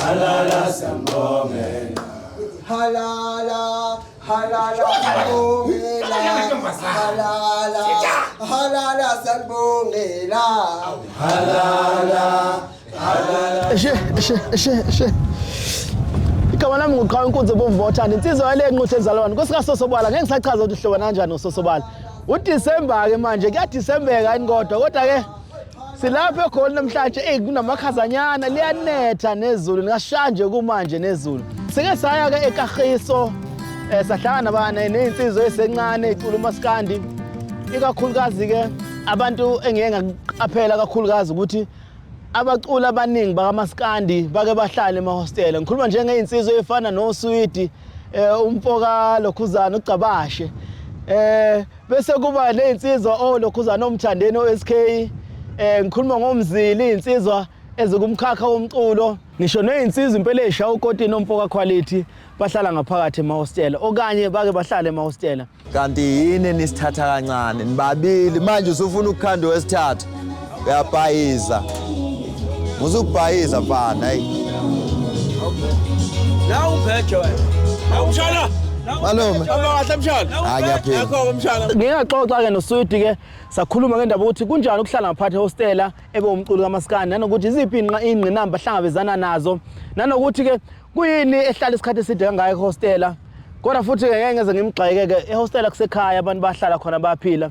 Halala sambongela. Halala, halala sambongela. Halala, halala sambongela. Halala, halala. Eshe, eshe, eshe, eshe. igama lami nguqhawe inkunzi ebomvu bothanda insizwa yale nquthe ezalwane kwesikasosobala ngeke ngisachaza ukuthi uhlobana kanjani ngososobala udisemba-ke manje kuyadisembeka yini kodwa kodwa-ke Silapha eGoli namhlanje eyi kunamakhazanyana liyanetha nezulu lingashanje kumanje nezulu. Sike saya ke eKagiso eh sahlangana bana nezinsizwa esencane icula umaskandi ikakhulukazi ke abantu engeke ngaqaphela kakhulukazi ukuthi abacula abaningi bakamaskandi bake bahlale emahostela ngikhuluma njengezinsizwa ezifana noSwidi eh umfoka lokhuzana ugcabashe eh Bese kuba nezinsizwa olokhuzana omthandeni oSK eh ngikhuluma ngomzili izinsizwa ezikumkhakha womculo ngisho nezinsizwa impela esha ukotini omfoka quality bahlala ngaphakathi emahostela okanye bake bahlale emahostela kanti yini nisithatha kancane nibabili manje usufuna ukukhanda wesithathu uyabhayiza muze ukubhayiza mfana hayi nawu ubheje wena nawu mshana malume abakahle mshana hayi ngiyaphila akho mshana ngingaxoxa ke noswidi ke sakhuluma ke ndaba ukuthi kunjani ukuhlala ngaphathi hostela ebe umculo kamaskani nanokuthi iziphi inqa ingqinamba hlangabezana nazo nanokuthi ke kuyini ehlala isikhathi eside kangaka ehostela kodwa futhi ke ngeke ngeze ngimgxeke ke ehostela kusekhaya abantu bahlala khona baphila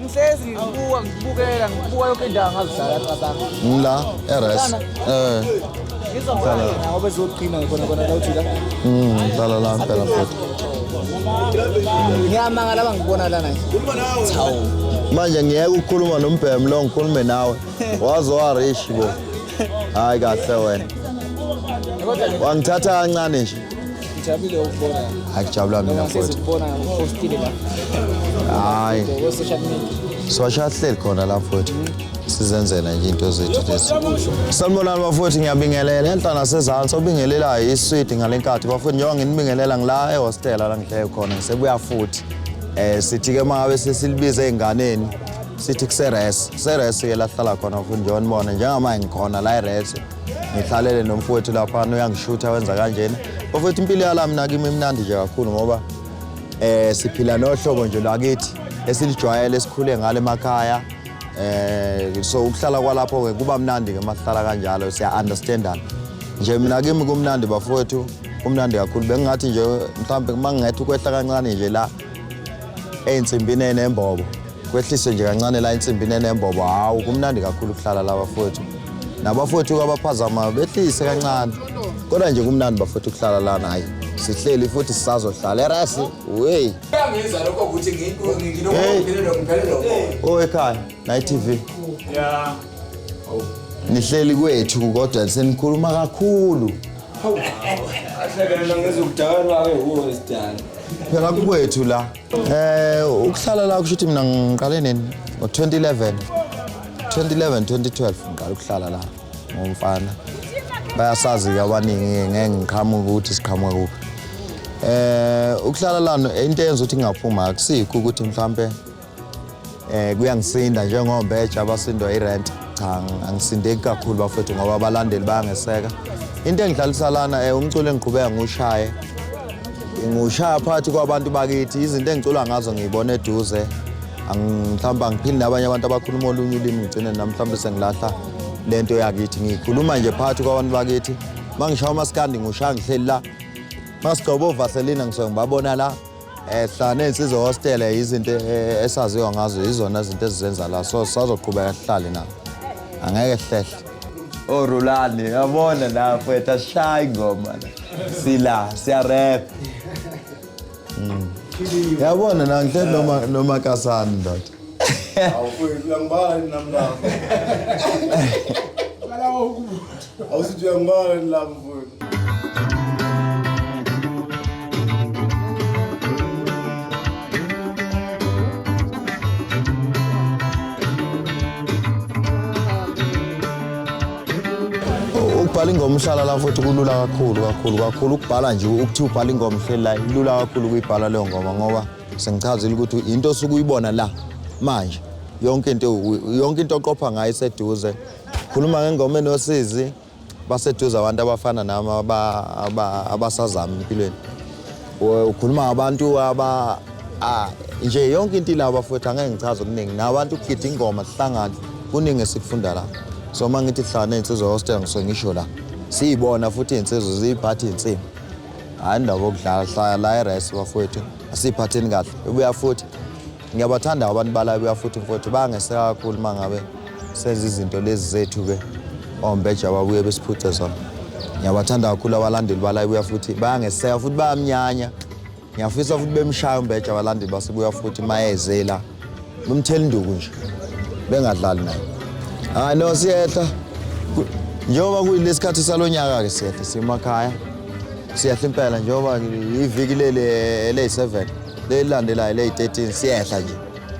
Ngihlezi ngibuka ngibukela ngibuka yonke indawo ngazidlala cabanga. Ngila eres. Eh. Ngizobhala ngoba ezogcina khona khona la uthi la. Mm, dlala la phela futhi. Ngiyamanga laba ngibona lana. Chawu. Manje ngiyeke ukukhuluma nombhemu lo ngikhulume nawe. Waze wa rich bo. Hayi kahle wena. Wangithatha kancane nje. Hayi kujabula mina futhi. Hayi. Sosha sihleli khona la futhi. Sizenzela nje into zethu lezi. Sanibonani bafowethu ngiyabingelela enhla nasezantsi obingelelayo iswidi ngalenkathi bafowethu njengoba nginibingelela ngila ehostela la ngihleye khona ngisebuya futhi. Eh sithi ke mangabe sesilibize ezinganeni sithi kuseres seres ke lahlala khona futhi njengoba nibona njengamanje ngikhona la eres ngihlalele nomfowethu laphana uyangishutha wenza kanjena bafowethu impilo yala mina kimi imnandi nje kakhulu ngoba eh siphila nohlobo nje lwakithi esilijwayele esikhule ngale emakhaya eh so ukuhlala kwalapho ke kuba mnandi ke mahlala kanjalo siya understandana nje mina kimi kumnandi bafowethu kumnandi kakhulu bengingathi nje mhlawumbe mangingethe ukwehla kancane nje la eyinsimbini enembobo Kwehliswe nje kancane la insimbi nenembobo hawu kumnandi kakhulu ukuhlala la bafowethu. Nabafowethu abaphazama behlise kancane. Kodwa nje kumnandi bafowethu ukuhlala lana hayi. Sihleli futhi sisazohlala erasi. Wey. Kuyangenza lokho ukuthi ngi- ngi- nginokuphilelwa ngiphelelwa umoya. Oh ekhaya nayi TV. Yeah. Nihleli kwethu kodwa senikhuluma kakhulu. Ahlekelela ngezokudakana kwake wuwo isidala. Phela kukwethu la. Eh ukuhlala la kusho ukuthi mina ngiqale nini ngo-2011 2011 2012 ngiqala ukuhlala la ngomfana bayasazi-ke abaningi ngeke ngiqhamuke ukuthi siqhamuke kuphi eh ukuhlala lana into eyenza ukuthi ngingaphuma akusikho ukuthi mhlampe Eh kuyangisinda njengombe eja abasindwa irent. Cha angisindeki kakhulu bafethu ngoba abalandeli bayangeseka. Into engidlalisa lana eh umculo engiqhubeka ngushaye. Ngushaya phakathi kwabantu bakithi izinto engicula ngazo ngiyibona eduze. Mhlawumbe angiphili nabanye abantu abakhuluma olunye ulimi ngigcine nami mhlawumbe sengilahla lento yakithi ngikhuluma nje phakathi kwabantu bakithi mangishaya umaskandi ngushaya ngihleli la masigcoba ovaselina ngisuke ngibabona la ehla nensizwa hostela yizinto eh, esaziwa ngazo yizona izinto ezizenza la so sazoqhubeka sihlale na angeke hlehle orulani oh, yabona la mfethu asishayi ngoma sila siyarap hmm. yabona na ngihle noma noma kasani ndoda awufiki uyangibala nami lapho Awusithi uyangibala yini lapho mfowethu? ukubhala ingoma uhlala la futhi kulula kakhulu kakhulu kakhulu ukubhala nje ukuthiwa ubhala ingoma uhleli la ilula kakhulu ukuyibhala leyo ngoma ngoba sengichazile ukuthi into osuke uyibona la manje yonke into yonke into oqopha ngayo iseduze Khuluma ngengoma enosizi baseduze abantu abafana nami abasazama empilweni. Ukhuluma ngabantu aba nje yonke into ilabo bafowethu angeke ngichaze okuningi. Nabantu ukugida ingoma sihlangane kuningi esikufunda la. So uma ngithi kuhlangane iy'nsizwa hostel ngisuke ngisho la. Siyibona futhi iy'nsizwa ziyiphatha iy'nsimbi. Hhayi indaba yokudlala hlala la eresi bafowethu asiyiphatheni kahle. Ibuya futhi Ngiyabathanda abantu balabuya futhi mfowethu bayangeseka kakhulu uma ngabe senza izinto lezi zethu-ke ombeja babuye besiphuce zona. Ngiyabathanda kakhulu abalandeli balabuya futhi bayangeseka futhi bayamnyanya. Ngiyafisa futhi bemshaya umbeja abalandeli basebuya futhi mayezela. Bemthela induku nje. Bengadlali naye. Hayi no siyehla. Njengoba kuyilesikhathi salonyaka-ke siyehla simakhaya. Siyehla impela njengoba iviki leli eley-7. Lelandelayo leyi 13 siyehla nje.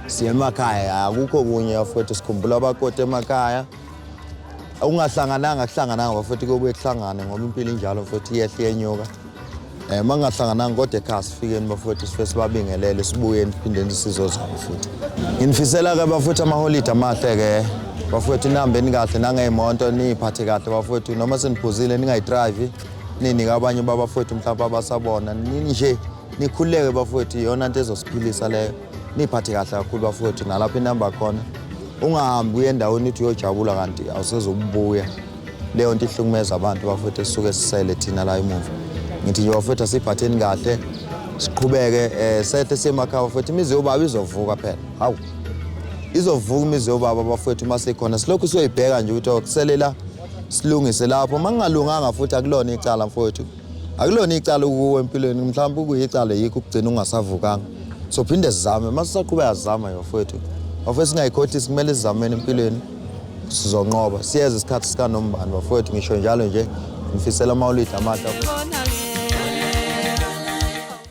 Siye emakhaya akukho kunye afethu sikhumbula abakoti emakhaya. Ungahlangananga kuhlangananga bafethu kuyobuye kuhlangane ngoba impilo injalo mfethu iyehla iyenyuka. Eh mangahlangananga kodwa ekhaya sifikeni bafethu sifike sibabingelele sibuye niphindeni isizo zabo futhi. Nginifisela ke bafethu amaholide amahle ke. Bafethu nihambeni kahle nangeemonto niyiphathe kahle bafethu noma seniphuzile ningayidrayivi ninike abanye babafethu mhlawumbe abasabona nini nje Nikhululeke bafowethu, iyona nto ezosiphilisa leyo. Niyiphathe kahle kakhulu bafowethu, nalapho inamba khona. Ungahambi uye endaweni uthi uyojabula kanti awusezobubuya. Leyo nto ihlukumeza abantu bafowethu esisuke sisele thina la emuva. Ngithi nje bafowethu asiyiphatheni kahle, siqhubeke um sehle siyemakhaya bafowethu. Imizi yobaba izovuka phela, hawu. Izovuka imizi yobaba bafowethu uma sikhona. Silokhu siyoyibheka nje ukuthi okusele la silungise lapho. Uma kungalunganga futhi akulona icala mfowethu. akulona icala ukuwo empilweni mhlawumbe ukuyicala yikho ukugcina ungasavukanga so phinde sizame uma sisaqhubeka sizama yofowethu bafowethu singayikhothisi kumele sizameni empilweni sizonqoba siyeza isikhathi sikanombani bafowethu ngisho njalo nje ngifisela amawulidi amahle